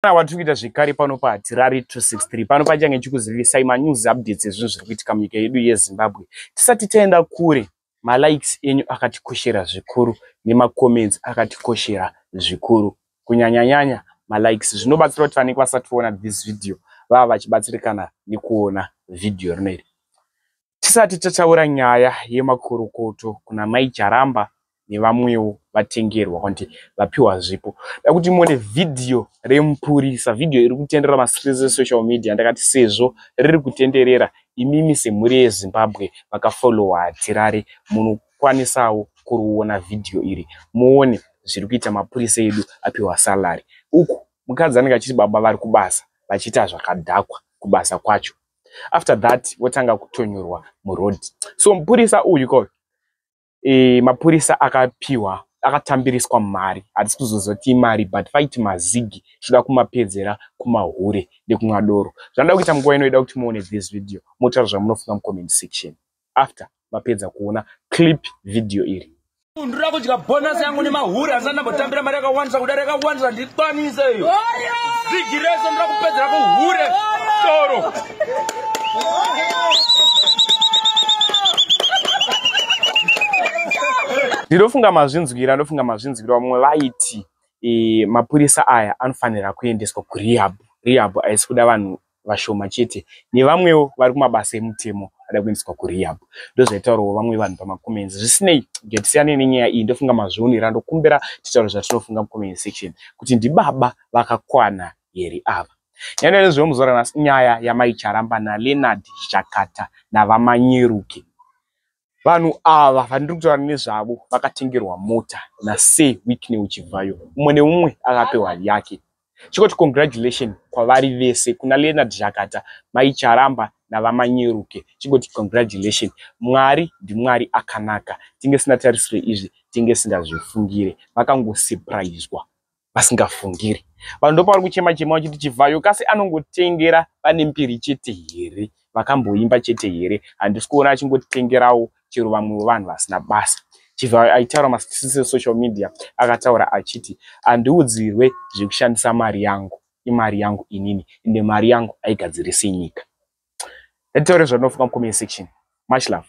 Kana watiri kuita zvekare pano pahatirari 263 pano pachange chikuzivisai manews updates ezvinhu zviri kuitika munyika yedu yezimbabwe tisati taenda kure malikes enyu akatikoshera zvikuru nemacomments akatikoshera zvikuru kunyanyanyanya malikes zvinobatsira kuti vanenge vasati voona this video vava vachibatsirikana nekuona vhidhiyo rino iri Tisati tataura nyaya yemakurukutu kuna mai Jaramba nevamwewo vatengerwa kuti vapiwa zvipo. Dakuti muone video remupurisa, video iri kutenderera masirese social media ndakati sezvo riri kutenderera imimi semhuri yeZimbabwe vakafollowa Tirare munokwanisawo kuriona video iri muone zviri kuita mapurisa edu apiwa salary. Uku mukadzi anenge achiti baba vari kubasa vachiita zvakadhakwa kubasa kwacho. after that votanga kutonyurwa muroad so mupurisa uyu ko e, mapurisa akapiwa akatambiriswa mari hatisi kuzozoti imari but faiti mazigi zvoda kumapedzera kumahure nekunwa doro zvanoda kuita munguva inoida kuti muone this video motaura zvamunofunga mucomment section after mapedza kuona clip video iri ndira kudya bonus yangu nemahuri asi andambotambira mari yakawandisa kudari yakawandisa ndikwanise iyo zigi rese ndira kupedzera kuhure toro ndinofunga mazvinzwira ndofunga mazvinzwira vamwe vaiti e, mapurisa aya anofanira kuendeswa kurehab rehab haisi kuda vanhu vashoma chete nevamwewo vari kumabasa emutemo ada kuendeswa kurehab ndozvaitaurawo vamwe vanhu pamacomments zvisinei ngatisiyanei nenyaya iyi ndofunga mazvionera ndokumbira titaure zvatinofunga mucomment section kuti ndibaba vakakwana here ava nyaya nezveyo muzora nhasi nyaya yamaicharamba naleonard chakata navamanyeruke vanhu ava vandiri kutaura nezvavo vakatengerwa mota nasir wikney uchibvayo umwe neumwe akapewa yake chikoti congratulation kwavari vese kuna leonard zhakata mai charamba navamanyeruke chikoti congratulation mwari ndimwari akanaka tinge sina tarisiro izvi tinge singazvifungire vakangosurpriswa vasingafungiri vanhu ndopavari kuchema chema vachiti chivhayo kasi anongotengera vane mbiri chete here vakamboimba chete here handisi kuona achingotengerawo chero vamwe vevanhu vasina basa chivhayo aitaura masisi esocial media akataura achiti handiudzirwe zvekushandisa mari yangu imari yangu inini ende mari yangu aigadzirise nyika ndataure zvandinofunga mucomment section much love